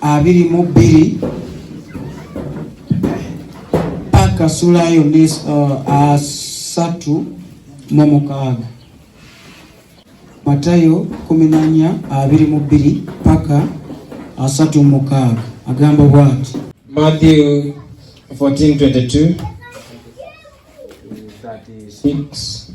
abiri mu bbiri paka sula yonna uh, asatu mu mukaaga Matayo kumi na nnya abiri mu bbiri paka asatu mu mukaaga agamba bwati Matthew 14:22 36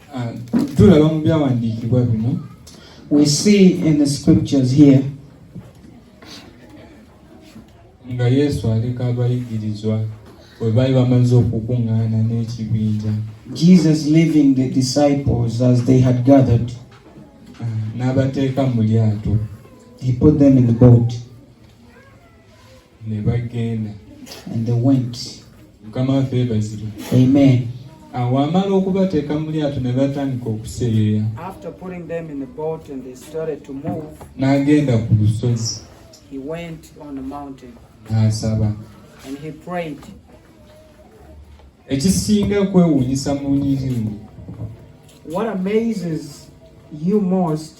Ah, tulaba mu byawandiikibwa bino we see in the scriptures here nga yesu aleka abayigirizwa bwe baali bamaze okukuŋŋaana n'ekibinja jesus leaving the disciples as they had gathered ah, n'abateeka mu lyato he put them in the boat ne bagenda and they went mukama waffe yebazibwe amen awo amala okubateeka mu lyato ne batandika okuseeyeeya n'agenda ku lusozi n'asaba ekisinga kwewuunyisa mu nyirimu What amazes you most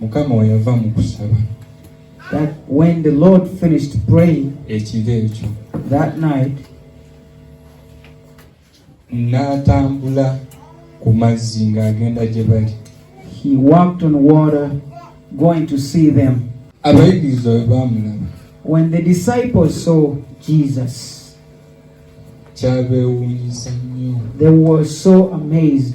mukama weyava mu kusaba that when the lord finished praying ekiro ekyo that night n'atambula ku mazzi ng'agenda gye bali he walked on water going to see them abayigiriza bwe baamulaba when the disciples saw jesus kyabeewuunyisa nnyo they were so amazed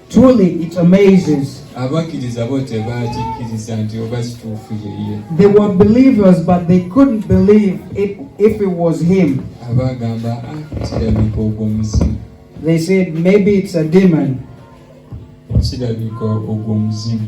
Truly it amazes. Abakkiriza bo tebaakikkiriza nti oba kituufu ye ye. They were believers but they couldn't believe it if it was him. Abagamba ah, kirabika ogwo muzimu. They said maybe it's a demon. Kirabika ogwo muzimu.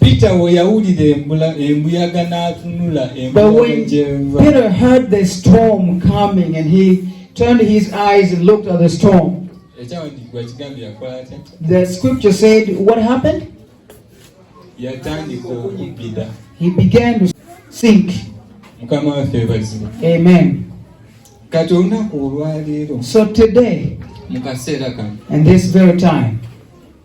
Peter weyawulira embula embuyaga n'atunula embuyaga Peter heard the storm coming and he turned his eyes and looked at the storm. The scripture said what happened? He began to sink. Amen. So today, in this very time,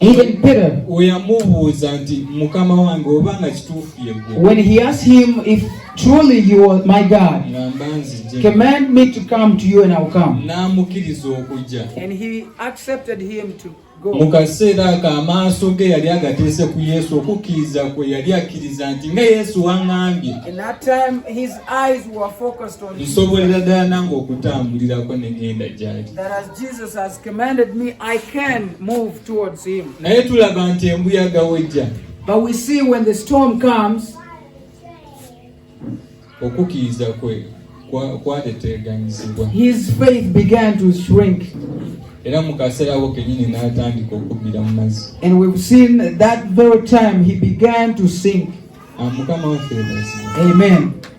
Even Peter, oyamubuuza nti mukama wange oba nga kituufu yegwe when he asked him if truly you are my God, ngamba nzije command me to come to you and I'll come. n'amukkiriza okujja And he accepted him to mu go. kaseera ako amaaso ge yali agateese ku yesu okukkiriza kwe yali akkiriza nti nga yesu waŋŋambye In that time, his eyes were focused on him. nsobolera ddala nange okutambulirako ne ŋŋenda gyali That as Jesus has commanded me, I can move towards him. Naye tulaba nti embuyaga wejja. But we see when the storm comes, okukkiriza kwe kwateteeganyizibwa. His faith began to shrink. era mu kaseera ako kenyini n'atandika okubbira mu mazzi and we've seen that very time he began to sink ah, mukama waffe amen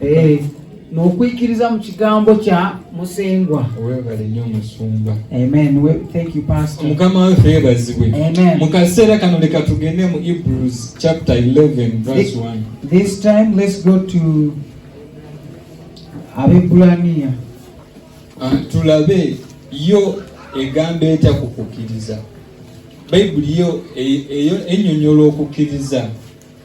Eh, n'okwikiriza mu kigambo kya musengwa webale nnyo musumba mukama waffe yebazibwe mu kaseera kano leka tugende mu hebrews chapter 11 verse 1 this time let's go to abebulaniya ah, tulabe yo egamba etya ku kukkiriza bayibuli yo e, enyonyola okukkiriza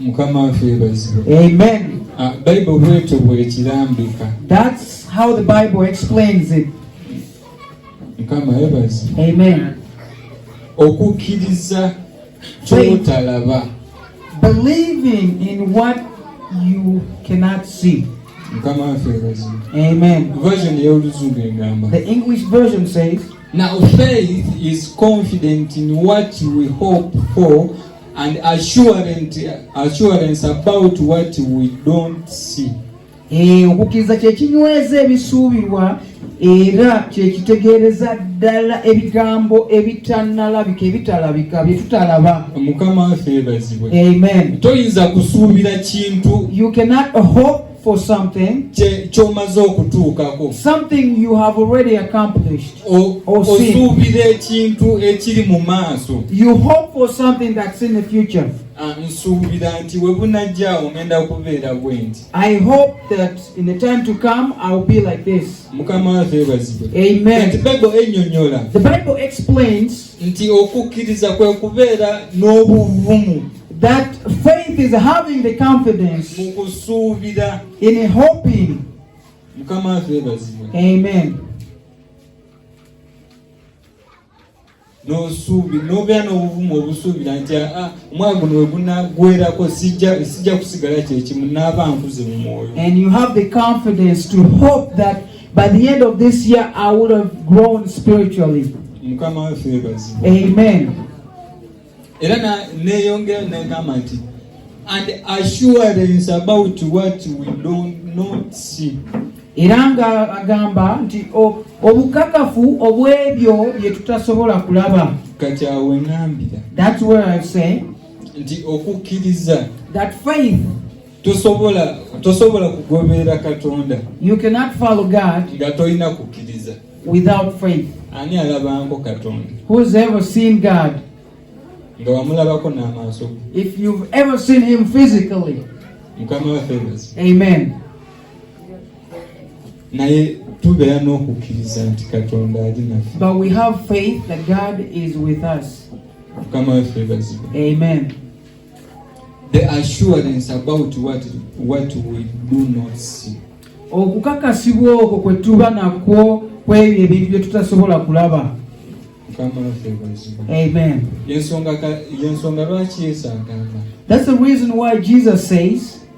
mukama waffe yebazibwe amen ah, bible bwetyo bwekirambika that's how the bible explains it mukama yebazibwe amen okukkiriza kyotalaba believing in what you cannot see mukama waffe yebazibwe amen version eyoluzungu egamba the english version says Now, faith is confident in what we hope for, and assurance, assurance about what we don't see eh, okukkiriza kyekinyweza ebisuubirwa era kyekitegeereza ddala ebigambo ebitanalabika ebitalabika byetutalaba mukama waffe ebazibwe amen toyinza kusuubira kintu you cannot hope for something kyomaze okutuukako something you have already accomplished osuubira ekintu ekiri mu maaso you hope for something that's in the future ah, nsuubira nti we bunajja ogenda kubeera bwenti i hope that in the time to come i will be like this mukama waffe ebazibwe amen the bible enyonyola the bible explains nti okukkiriza kwe kubeera n'obuvumu that faith is having the confidence mu kusuubira in hoping mukama waffe ebazibwe amen nosuubi nobeera n'obuvumu obusuubira nti aa ah, omwaka guno wegunaggwerako sijja kusigala kyekimu naaba nkuze mu mwoyo By the end of this year, I would have grown spiritually. Amen. And assurance about what we don't not see. era nga agamba nti obukakafu obw'ebyo bye tutasobola kulaba kati awo enambira nti okukkiriza tosobola tosobola kugoberera katonda you cannot follow god nga tolina kukkiriza without faith ani alabanko katonda who's ever seen god nga wamulabako n'amaaso if you've ever seen him physically mukama waffe amen naye tubeera n'okukkiriza nti katonda ali naffe but we have faith that god is with us mukama waffe bazibwe amen The assurance about what, what we do not see. Okukakasibwa okwo kwe tuba nakwo kw'ebyo ebintu bye tutasobola kulaba. Amen. Y'ensonga lwaki Yesu agamba. That's the reason why Jesus says.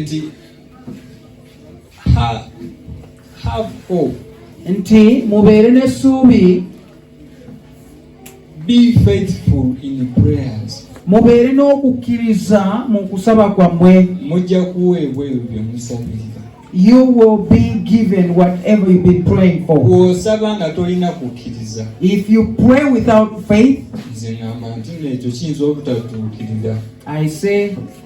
nti have hope nti mubeere n'essuubi be faithful in prayers mubeere n'okukkiriza mu kusaba kwammwe mujja kuweebwa ebyo bye musabira you will be given whatever you've been praying for. If you pray without faith, I say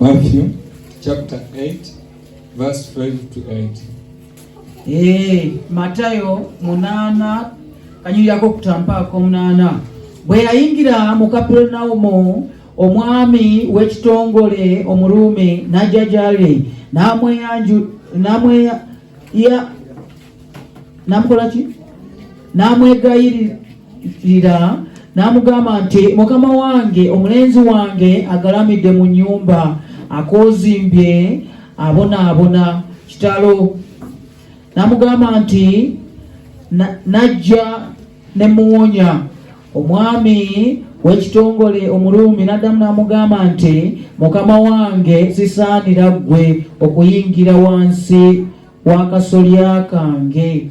Matthew chapter 8 verse 12 to 8. Eh, Matayo munana kanyirako kutampaako munana bwe yayingira mu Kapernaumu omwami w'ekitongole omuruumi n'ajja gy'ali n'amweyanju n'amweya ya n'amukola ki n'amwegayirira lira n'amugamba nti mukama wange omulenzi wange agalamidde mu nyumba akoozimbye abonaabona kitalo n'amugamba nti najja ne muwonya omwami w'ekitongole omuluumi n'addamu n'amugamba nti mukama wange sisaanira ggwe okuyingira wansi w'akasolya kange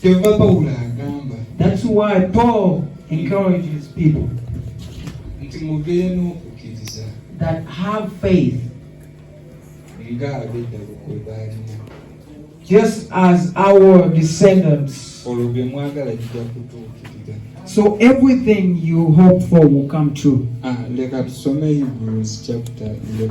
kyova pawulo agamba thats why paul encourages people nti mubeere n'okukkiriza that have faith nga abedda lukwe baalina just as our descendants olwo bye mwagala jija kutuukirira so everything you hope for will come true ah, leka tusome hebrews chapter 11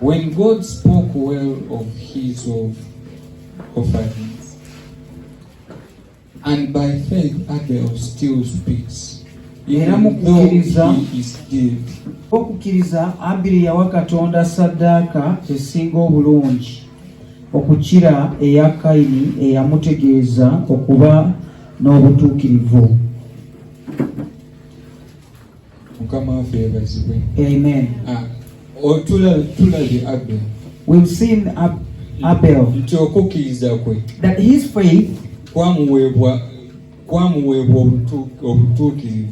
When God spoke well of his of offerings, and by faith Abel still speaks, era mu kukkiriza okukkiriza abiri yawa katonda saddaaka esinga obulungi okukira eya kayini eyamutegeeza okuba n'obutuukirivu mukama waffe yebazibwe amen ah, tulabye abel we've seen Ab abel nti okukkiriza kwe that his faith kwamuweebwa kwamuweebwa obutuukirivu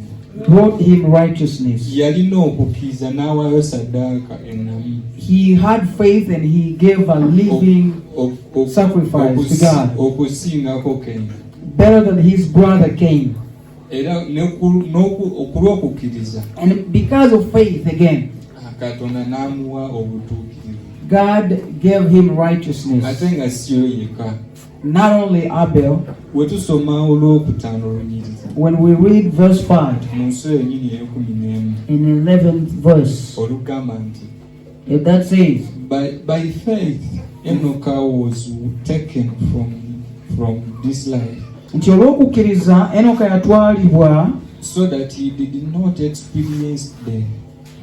brought him righteousness yalina okukkiriza n'awaayo saddaaka ennamu he had faith and he gave a living sacrifice to god okusingako kenya better than his brother came era okulw'okukkiriza and because of faith again ah, katonda n'amuwa obutuukirivu god gave him righteousness ate nga siyo yekka not only abel wetusoma olw'okutaano olunyiriza when we read verse 5 mu nsi yenyini ey'ekumi n'emu in 11th verse olugamba nti If that says, by, by faith, Enoch was taken from, from this life. nti olw'okukkiriza enoka yatwalibwa so that he did not experience death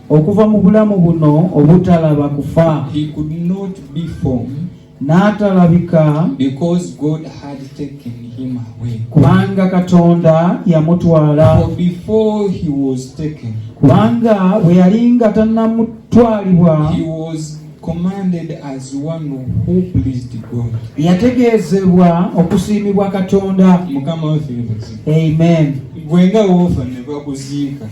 okuva mu bulamu buno obutalaba kufa he could not be formed n'atalabika because God had taken him away kubanga katonda yamutwala for before he was taken kubanga bwe yali nga tannamutwalibwa he was commanded as one who pleased God yategeezebwa okusiimibwa katonda mukama waffe amen gwenga wofa ne bakuziika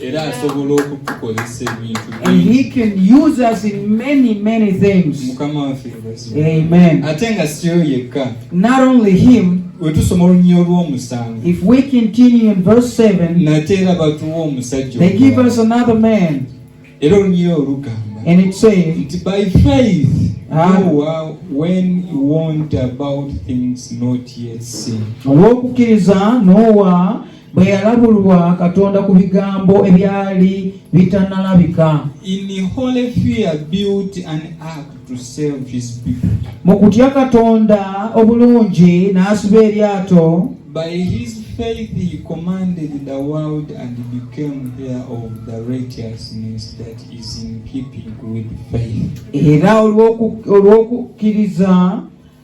era asobola okutukozesa ebintu mukama waffe ate nga siyo yekka wetusoma olunyiriri olw'omusanvu nate era batuwa omusajja era olunyiriri olugamba nti by faith olw'okukkiriza n'owa bwe yalabulwa katonda ku bigambo ebyali bitanalabika mu kutya katonda obulungi n'asiba eryato By his faith he commanded the world and became heir of the righteousness that is in keeping with faith. Era olw'okukkiriza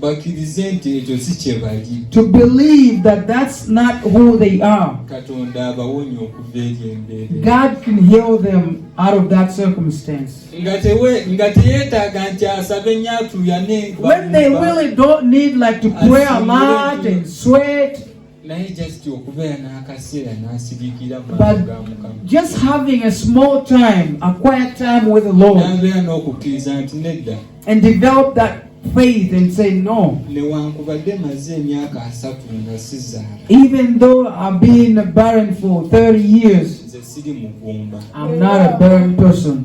bakirize nti ekyo si kye bali to believe that that's not who they are katonda abawonya okuva eri embeera god can heal them out of that circumstance nga tewe nga teyeetaaga nti asabe nnyo atuyane when they really don't need like to pray a lot and sweat naye just okubeera n'akaseera n'asigikira ga mukama just having a small time a quiet time with the lord n'abeera n'okukkiriza nti nedda and develop that faith and say no newankubadde maze emyaka asatu nga sizaala even though i've been barren for 30 years nze siri mugumba i'm not a barren person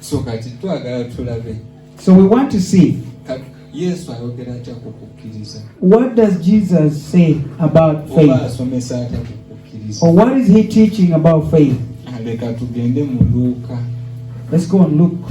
so kati twagala tulabe so we want to see yesu ayogera atya ku kukkiriza what does jesus say about faith oba asomesa atya ku kukkiriza or what is he teaching about faith ah, leka tugende mu luuka let's go and look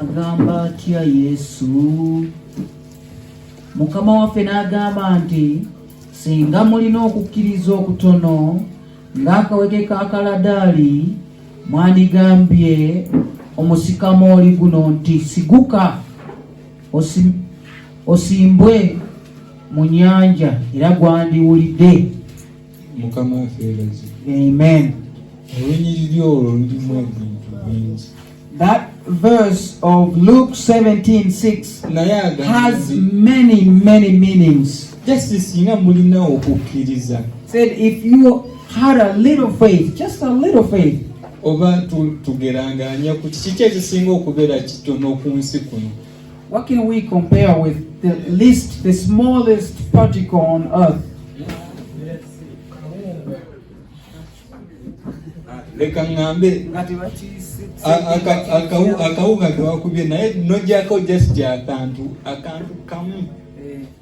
agamba atya yesu mukama waffe n'agamba nti singa mulina okukkiriza okutono ng'akaweke ka kaladaali mwandigambye omusikamooli guno nti siguka osimbwe mu nyanja era gwandiwulidde mukama afeerazi amen olunyiriri olwo lulimu ebintu bingi that verse of luke 17:6 has many many meanings just singa mulina okukkiriza said if you had a little faith just a little faith oba tugeranganya ku kiki kyekisinga okubeera kitono ku nsi kuno What can we compare with the least, the smallest particle on earth? leka ŋŋambe akawuka kewakubye naye nojjako just akantu akantu kamu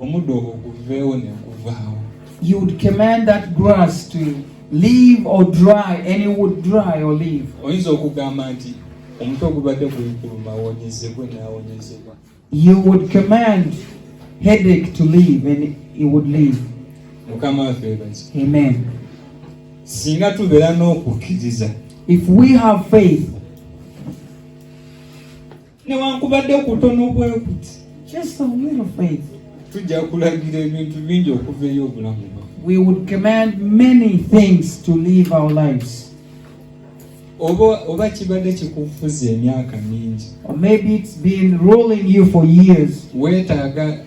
omuddo ogwo guveewo ne guvaawo you would command that grass to leave or dry any would dry or leave oyinza okugamba nti omuti ogubadde gulikuluma wonyezebwe naawonyezebwa you would command headache to leave and it would leave mukama waffe ebazi amen singa tubeera n'okukkiriza if we have faith newankubadde okutono bwekuti just a little faith tujja kulagira ebintu bingi okuva eri obulamu we would command many things to live our lives oba oba kibadde kikufuza emyaka mingi or maybe it's been ruling you for years weetaaga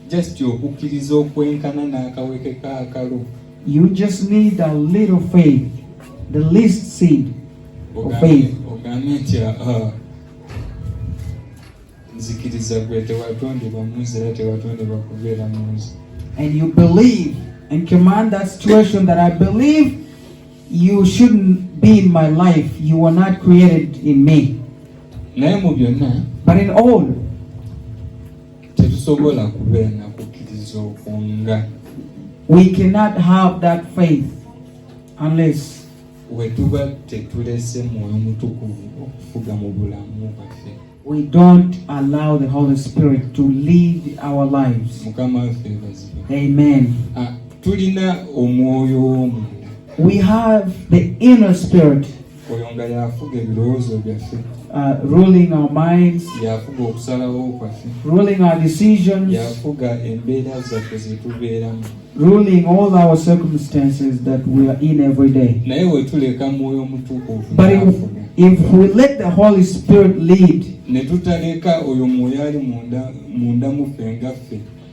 just okukkiriza okwenkana n'akaweke k'akalo you just need a little faith the least seed of faith ogambe nti ah, nzikiriza gwe tewatondebwa mu nsi era tewatondebwa kubeera mu nsi and you believe and command that situation that i believe you shouldn't be in my life you were not created in me naye mu byonna but in all tetusobola kubeera na kukkiriza okwo nga we cannot have that faith unless we tuba tetulese mwoyo mutukuvu okufuga mu bulamu bwaffe we don't allow the holy spirit to lead our lives mukama waffe bazibe amen ah, tulina omwoyo w'omunda we have the inner spirit oyo nga y'afuga ebirowoozo byaffe uh, ruling our minds y'afuga okusalawo kwaffe ruling our decisions y'afuga embeera zaffe zetubeeramu ruling all our circumstances that we are in every day naye wetuleka mwoyo mutukuvu if we let the holy spirit lead ne tutaleka oyo mwoyo ali munda muffe nga ffe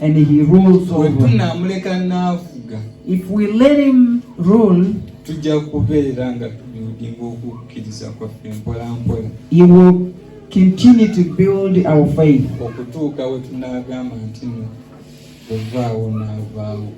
And he rules over. Bwetunaamuleka n'afuga. If we let him rule. Tujja kubeera nga tubuildinga okukkiriza kwaffe mpola mpola. He will continue to build our faith. Okutuuka we tunaagamba nti no, ovaawo n'avaawo.